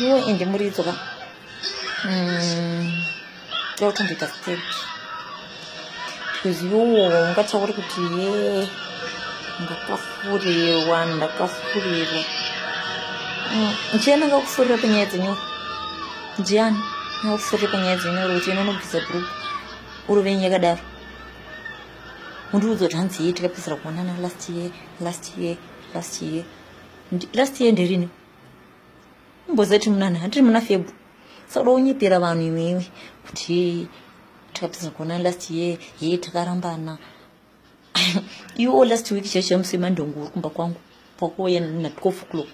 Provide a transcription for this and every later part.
iwo ende muridzo ka mm, tiri kutoita state because iwowo ungatauri kuti ye ndakafurirwa ndakafurirwa mm, ndichienda ngakufurira panyaya dzenyoro ndiani ngakufurira panyaya dzenyoro kuti inonobvisa group uri venyu yakadaro undiudza kuti hanzi ye tikapedzera kuonana last year last year last year last year nderini mbozati munana handiri muna febru saka unyepera vanhu iwewe kuti takapedza kuona last year hee takarambana iwo last week chaicho chamusi mandongo uri kumba kwangu pakuuya natwof clock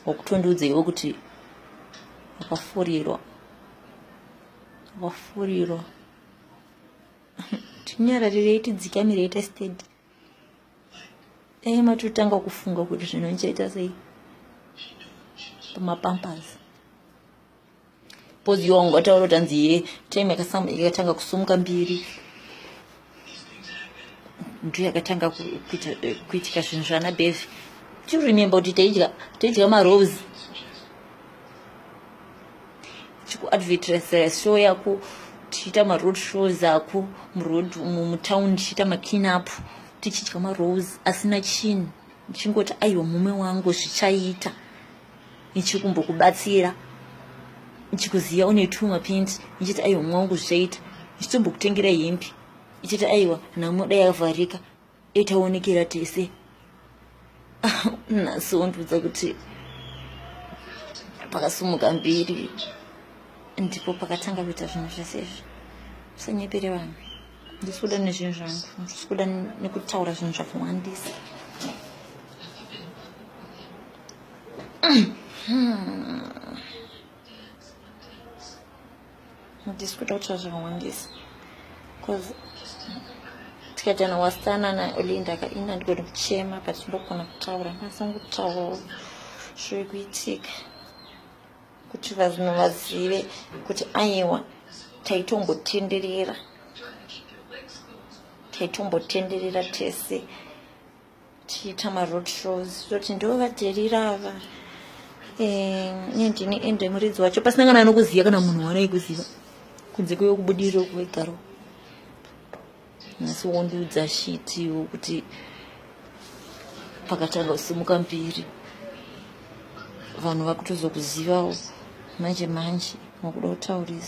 wakutondiudza iwe kuti wakafurirwa wakafurirwa tinyararirei tidzikamirei testedi dai matotanga kufunga kuti zvino ndichaita sei pamapampers pozi yo wanga wataura kuti hanzi ye time yakatanga kusumuka mbiri ndiyo yakatanga eh, kuitika zvinhu zvana bevi do you remember kuti taidya marose tichiku show yako tichiita maroad shows ako muroad mutown tichiita maclean up tichidya marose asina chinhu ndichingoti aiwa mume wangu zvichaita ndichikumbokubatsira ndichikuziva une two mapinti ndichiti aiwa mume wangu zvichaita ndichitombokutengera hembi ndichiti aiwa namoda yavharika itaonekera tese nhasi wondiudza kuti pakasumuka mbiri ndipo pakatanga kuita zvinhu zvese izvi usanyepere vanhu ndisi kuda nezvinhu zvangu ndisi kuda nekutaura zvinhu zvakawandisa Ndisi kuda kutaura zvakawandisa bcause tikadana wasana naolinda ka ini andigoni kuchema but ndogona kutaura masangu kutaurawo zviri kuitika kuti vazino vazive kuti aiwa taitombotenderera taitombotenderera tese tichiita maroad shows toti ndo vaterira ava ine ndini ende muridzi wacho pasina kana anokuziva kana munhu waanai kuziva kunze kweiwe kubudiriro kuwegaro asi wondiudza shitiwo kuti pakatanga kusimuka mbiri vanhu vakutozokuzivawo manje manje makuda kutaurisa